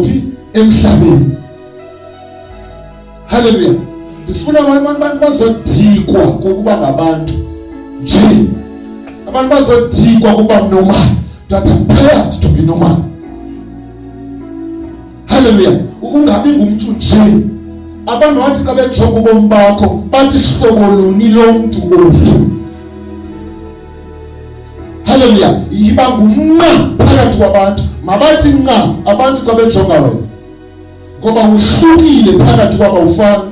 phi emhlabeni haleluya ndifuna abantu bazodikwa kokuba ngabantu nje abantu bazodikwa kokuba normal that I'm proud to be normal haleluya ungabi ngumntu nje abantu wathi xa bejonga ubomi bakho bathi hlobo luni lomntu olu Haleluya! Yiba ngumnqa phakathi kwabantu, mabathi nqa abantu xa bejonga wena, ngoba uhlukile phakathi kwaba ufana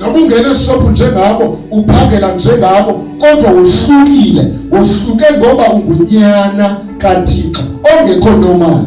noba ungena esishophu njengabo uphangela njengabo kodwa wohlukile wohluke ngoba ungunyana kathixo ongekho nomali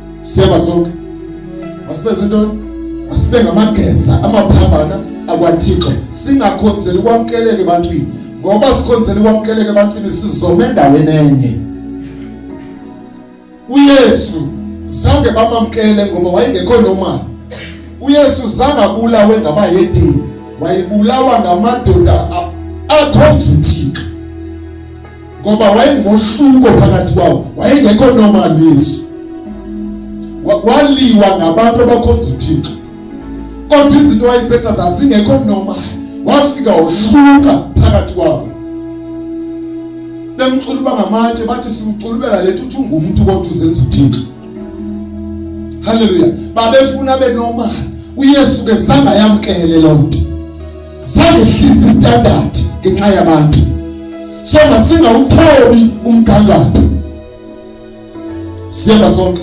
Siyaba sonke. Masibe zintoni? Masibe ngamageza amaphambana akwaThixo singakhonzeli kwamkeleke ebantwini ngoba sikhonzeli kwamkeleke ebantwini sizome endaweni enye. uYesu zange bamamkele ngoba wayengekho normal uYesu zange abulawe ngabayedini wayebulawa ngamadoda akhonza uThixo ngoba wayengohluko phakathi kwawo wayengekho normal yesu waliwa ngabantu abakhonza uthixo kodwa izinto wayezenza zazingekho normal wafika wohluka phakathi kwabo bemcula uba ngamatshe bathi simculubela le nto uthi ungumntu kodwa uzenza uthixo halleluya babefuna benormal uyesu ke zange ayamkele loo nto sangehlisa standard ngenxa yabantu so masingawuthobi umgangatho siyeba sonke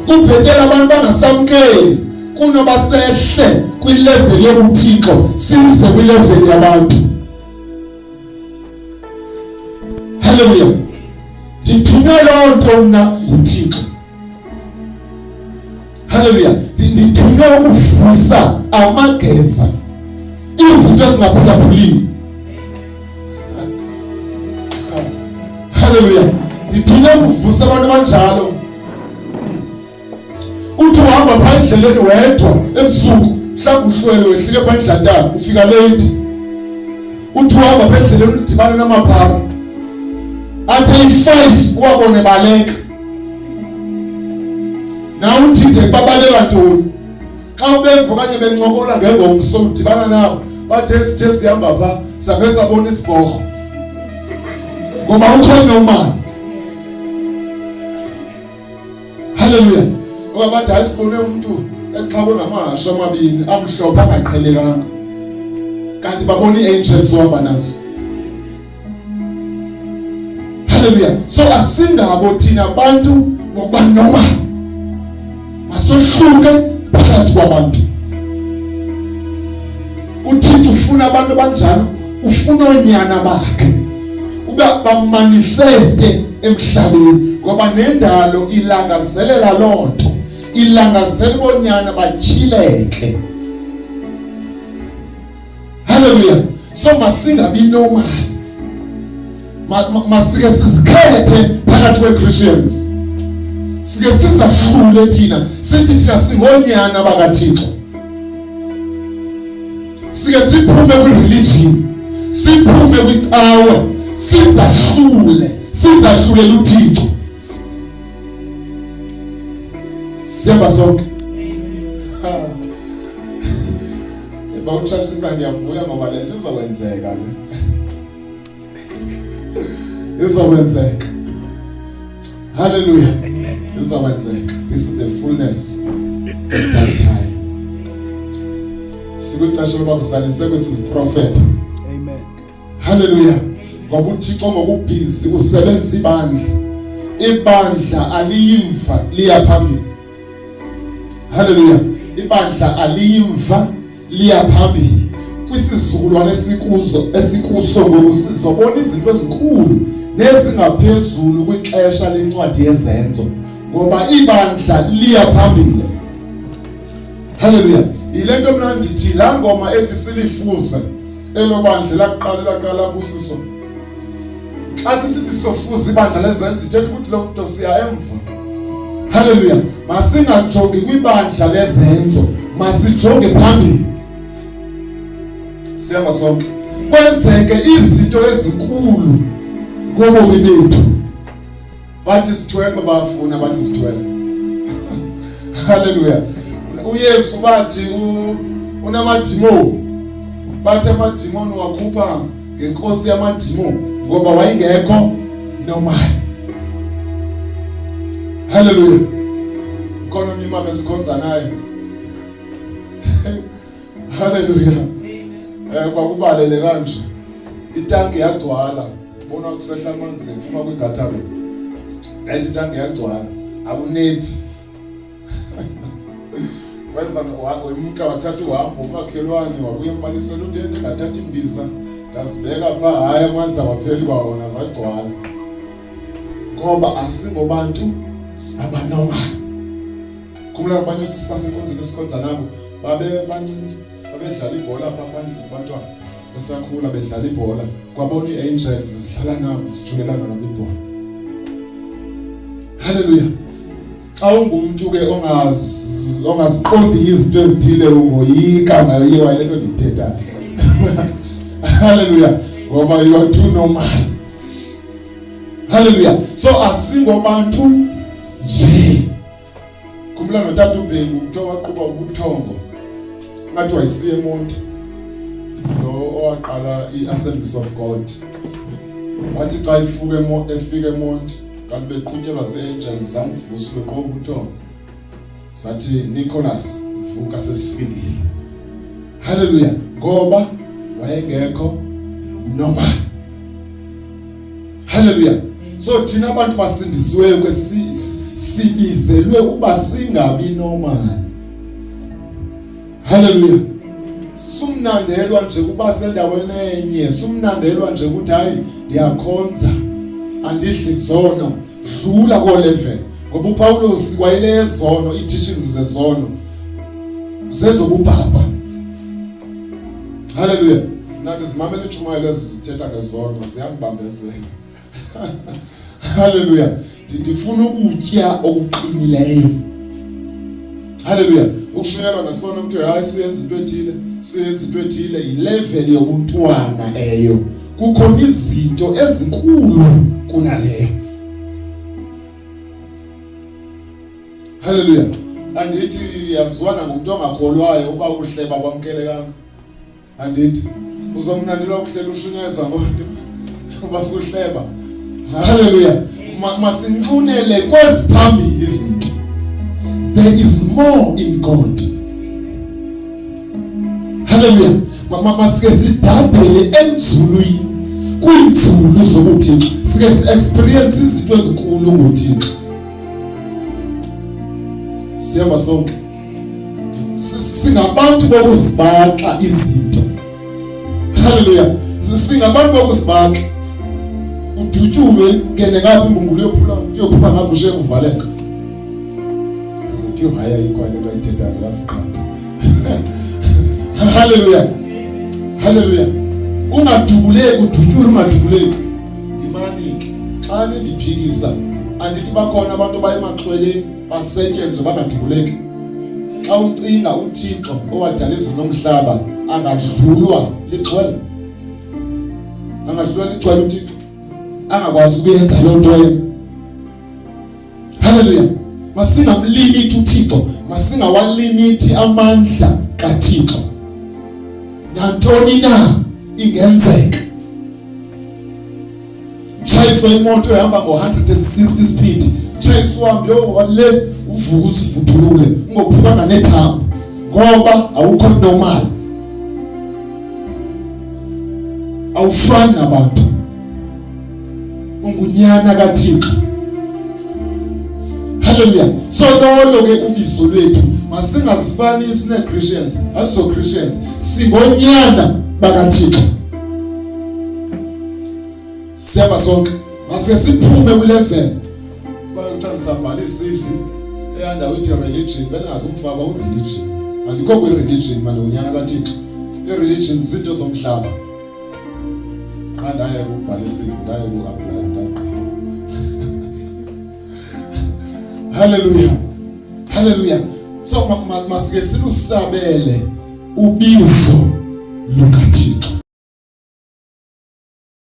kubhetela abantu bangasamkeli kunoba sehle kwileveli yobuthixo size kwileveli yabantu halleluya ndithunywe loo nto mna nguthixo Haleluya. Ndithunywe ukuvusa amageza izinto ezingaphulaphulini. Haleluya. Ndithunywe ukuvusa abantu abanjalo. Uthi uhamba phaa endleleni wedwa ebusuku mhlawumbi uhlwele wehlike phaa endlantana ufika late. Uthi uhamba phaa endleleni udibane namaphara. Athi ayi-five uwabone baleka. nawuthithe babaleka ntoni xa ubeva okanye bencokola ngengomso udibana nabo bathe sithe sihamba pha sabe sabona isibhorho ngoba ukhona umali halleluya ngoba bathi hayi sibone umntu exakwe ngamahasha amabini amhlophe angaqhelekanga kanti babona ii-angels uhamba nazo haleluya so asingabo thina bantu ngokuba noma masohluke phakathi kwabantu uthixo ufuna abantu abanjalo ufuna oonyana bakhe uba bamanifeste emhlabeni ngoba nendalo ilangazelela loo nto ilangazelela boonyana batyhileke Haleluya! So masingabi nomali, masike sizikhethe phakathi kwe-Christians, sike sizahlule thina sithi thina singoonyana bakaThixo, sike siphume kwi-religion, siphume kwicawa, sizahlule sizahlulele uThixo. Siyaba sonke. Eba uchashisa ndiyavuya ngoba le nto izokwenzeka. Izokwenzeka. Hallelujah. Izokwenzeka. This is the fullness of that time. Sikwixesha lokuba kusalise kwesi siprofeto. Haleluya. Ngoba uThixo ngokubhizi usebenzisa ibandla. Ibandla aliyimva liya phambili. Haleluya. Ibandla aliyimva liya phambili. Kwisizukulwane esikuzo esikuso ngoku sizobona izinto ezinkulu nezingaphezulu kwixesha lencwadi yezenzo ngoba ibandla liya phambili. Haleluya. Yile nto mna ndithi laa ngoma ethi silifuze elo bandla lakuqala elaqala labusiso xa sisithi sizofuza ibandla lezenzo ithetha ukuthi lo mntu siya emva halleluya masingajongi kwibandla lezenzo masijonge phambili siyaba sonke kwenzeke izinto ezinkulu ngobomi bethu bathi sithwele bafuna bathi sithwele haleluya uyesu bathi unamadimoni bathi amadimoni wakhupha ngenkosi yamadimoni ngoba wayengekho normal haleluya khona umimama esikhonza naye Haleluya. Eh kwakubalele kanje. Itanki yagcwala. Bona kusehla amanzi phuma kwi gutter. Ngathi itanki yagcwala. Akuneti. Weza wakho imka wathatha uhambo umakhelwane wabuye empalisela utende ngathatha imbiza. Ndazibeka pha hayi amanzi awapheli kwawona zagcwala. Ngoba asingobantu abanomali. Khumbula abanye osisi basenkonzweni esikhonza nabo babe bancinci babedlala ibhola apha phandle abantwana besakhula bedlala ibhola kwabona ii-angels zidlala nabo zijulelana nabo ibhola halleluya xa ungumntu ke ongaziqondi izinto ezithile ungoyika nayo iye wayile nto ndiyithethayo halleluya ngoba you are too normal halleluya so asingobantu nje Khumbula notata uBhengu kuthiwa waqhuba ubuthongo ngathi wayisiye emonti lo owaqala i-assemblies of god wathi xa ifuke efika emonti kanti beqhutyelwa zii-angels zamvusa ubeqhuba ubuthongo sathi nicholas vuka sesifikile halleluya ngoba wayengekho normal Hallelujah. So thina abantu basindisiweyo ke sibizelwe uba singabi normal. Hallelujah. Sumnandelwa nje kuba sendaweni enye, sumnandelwa nje ukuthi hayi ndiyakhonza. Andidli zono, dlula ko level. Ngoba uPawulos wayelezono, i teachings zezono. Zezobubhapha. Haleluya. Nathi zimamele intshumayelo ezithetha ngezono ziyambambezela. Haleluya. Ndifuna ukutya okuqinileyo. Haleluya. Ukushunyelwa nesono ukuthi hayi siyenza into ethile, siyenza into ethile yilevel yobuntwana eyo. Kukhona izinto ezinkulu kunaleyo. Haleluya. Andithi yazwana ngumntu ongakholwayo uba ukuhleba kwamkelekanga. Andithi uzomnandela ukuhlela ushunyezwa ngodo uba suhleba. Haleluya. Masinxunele kweziphambili izinto. There is more in God. Haleluya. Mama masike sidadele enzulwini kwiinzulu zobuthixo sike si-experience izinto ezinkulu ngothixo sihamba sonke singabantu bokuzibaxa izinto haleluya singabantu bokuzibaxa udutyulwe ngene ngapha imbungulu yophula yophuma ngapha ushe kuvaleka azothi haya ikwanye into ayithethayo yaziqanda haleluya haleluya ungadubuleki udutyulwe ungadubuleki Yimani xa nindiphikisa andithi bakhona abantu abayemaxweleni basetyenzwe bangadubuleki xa ucinga uthixo owadala izulu nomhlaba angadlulwa lixwele angadlulwa lixwele uthixo angakwazi ukuyenza loo nto yena Haleluya! Masingamlimiti uThixo, masingawalimiti amandla kaThixo. Nantoni na ingenzeka. Tshayiswa imoto ehamba ngo-160 speed, tshayiswa hambe yowale uvuka usivuthulule ungophukanga nethambo ngoba awukho normal awufani nabantu ungunyana kaThixo haleluya so lolo ke ubizo lwethu masingazifanisi neChristians aso Christians singonyana bakaThixo siyaba sonke masike siphume kule vele bayothatha sabhala isivi eyandawo ithi religion bengazi umfaka ureligion andikho kwi-religion manje unyana kathixo i-religion zinto zomhlaba qha ndaye kubhala isivi ndaye ku-aplaya ndaqala halleluya halleluya so masike silusabele ubizo lukathixo